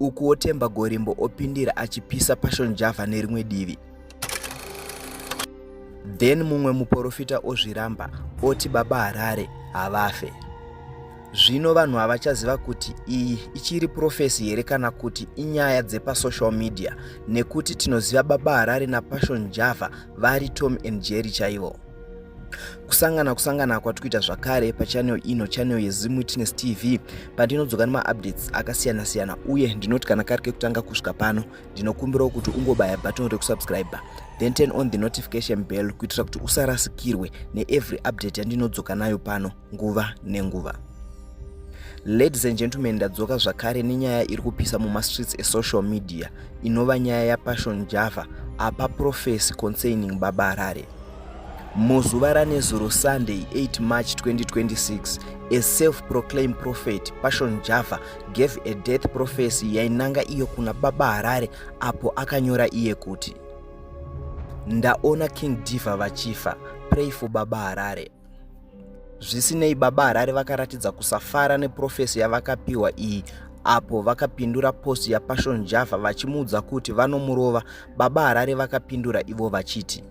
ukuwo Temba Gorimbo opindira achipisa Passion Java nerimwe divi. Then mumwe muporofita ozviramba oti baba Harare havafe. Zvino vanhu havachaziva kuti iyi ichiri profesi here kana kuti inyaya dzepasocial media nekuti tinoziva baba Harare naPassion Java vari Tom and Jerry chaivo. kusangana kusangana kwatiri kuita zvakare pachanel ino chanel yezimu witness tv pandinodzoka nemaupdates akasiyana siyana uye ndinoti kana kari kekutanga kusvika pano ndinokumbirawo kuti ungobaya button rekusubscribe then turn on the notification bell kuitira kuti usarasikirwe neevery update yandinodzoka nayo pano nguva nenguva ladies and gentlemen ndadzoka zvakare nenyaya iri kupisa mumastreets esocial media inova nyaya yapassion java apa profesi concerning baba harare muzuva ranezuro sunday 8 march 2026 a self-proclaimed prophet passion java gave a death prophecy yainanga iyo kuna baba harare apo akanyora iye kuti ndaona king diva vachifa pray for baba harare Zvisinei, Baba Harare vakaratidza kusafara neprofesi yavakapiwa iyi apo vakapindura post yaPassion Java vachimuudza kuti vanomurova. Baba Harare vakapindura ivo vachiti,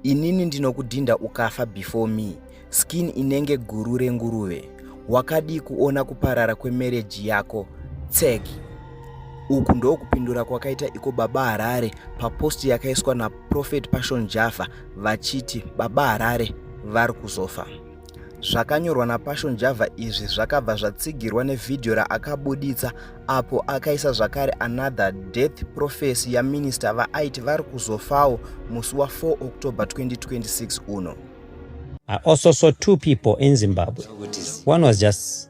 Inini ndinokudhinda ukafa before me, skin inenge guru renguruve. Wakadii kuona kuparara kwemereji yako? Tseki. Uku ndokupindura kwakaita iko Baba Harare papost yakaiswa naProphet Passion Java vachiti baba Harare vari kuzofa. Zvakanyorwa naPassion Java izvi zvakabva zvatsigirwa nevhidhiyo raakabuditsa apo akaisa zvakare another death prophecy yaminista vaaiti vari kuzofawo musi wa4 October 2026 uno. I also saw two people in Zimbabwe. One was just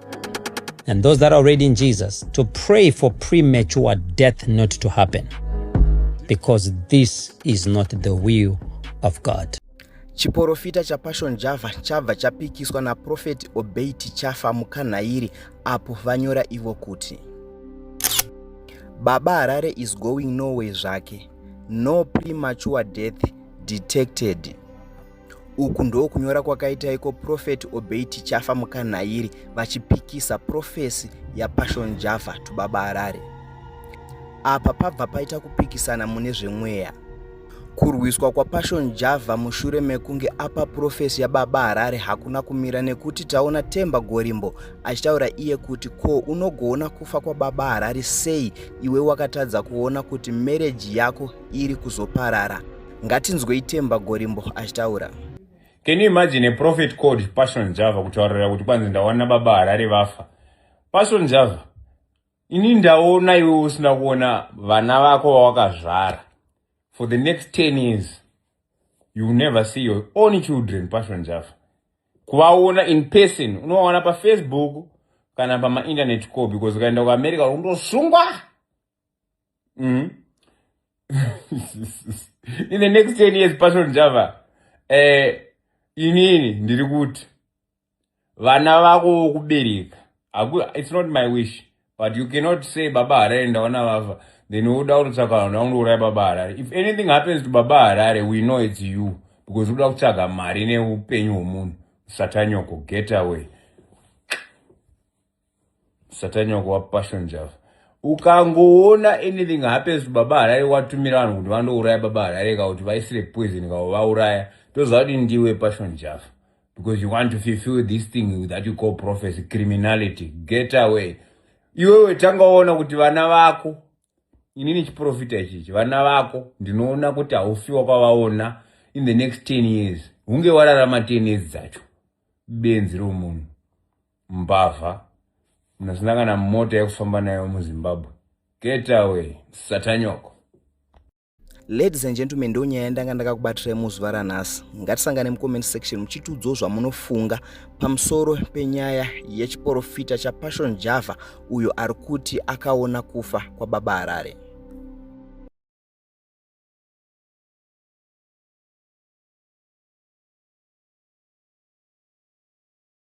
and those that are already in Jesus to pray for premature death not to happen because this is not the will of God. Chiporofita cha Passion Java chabva chapikiswa na Prophet Obey Tichafa mukanhairi apo vanyora ivo kuti Baba Harare is going nowhere zvake. No premature death detected. Uku ndokunyora kwakaita iko Prophet Obey Tichafa Mukanhairi vachipikisa Prophecy yaPassion Java Tubaba Harare. Apa pabva paita kupikisana mune zvemweya. Kurwiswa kwaPassion Java mushure mekunge apa Prophecy yaBaba Harare hakuna kumira nekuti taona Temba Gorimbo achitaura iye kuti ko unogoona kufa kwaBaba Harare sei iwe wakatadza kuona kuti marriage yako iri kuzoparara ngatinzwei temba gorimbo achitaura can you imagine a prophet called passion java kutaurira kuti kwanzi ndaona baba harare vafa passion java ini ndaona iwe usina kuona vana vako vawakazvara for the next 10 years you will never see your own children passion java kuvaona in person unovaona pafacebook kana pamainternet ko because ukaenda kuamerica unondosungwa mm. in the next 10 years passion java eh, inini ndiri kuti vana vako vokubereka it's not my wish but you cannot say baba harare ndaona vafa then woda kutotsvaga vanhu vakundouraya baba harare if anything happens to baba harare we know it's you because unoda kutsvaga mari neupenyu hwomunhu satanyoko get away satani wako wapassion java ukangoona anything happens baba harare watumira vanhu kuti vandouraya baba harare ka kuti vaisire poison kavo vauraya toziva kuti ndiwe passion java because you want to fulfill this thing that you call prophecy criminality get away iwewe tanga waona kuti vana vako inini chiprofita ichichi vana vako ndinoona kuti haufiwa kwavaona in the next 10 years hunge wararama 10 years dzacho benzi romunhu mbavha unosinangana mota yekufamba nayo muzimbabwe get away satanyoko ladies and gentlemen ndo nyaya yandanga ndakakubatirai muzuva ranhasi ngatisangane mucomment section muchitiudzawo zvamunofunga pamusoro penyaya yechiporofita chapassion java uyo ari kuti akaona kufa kwababa harare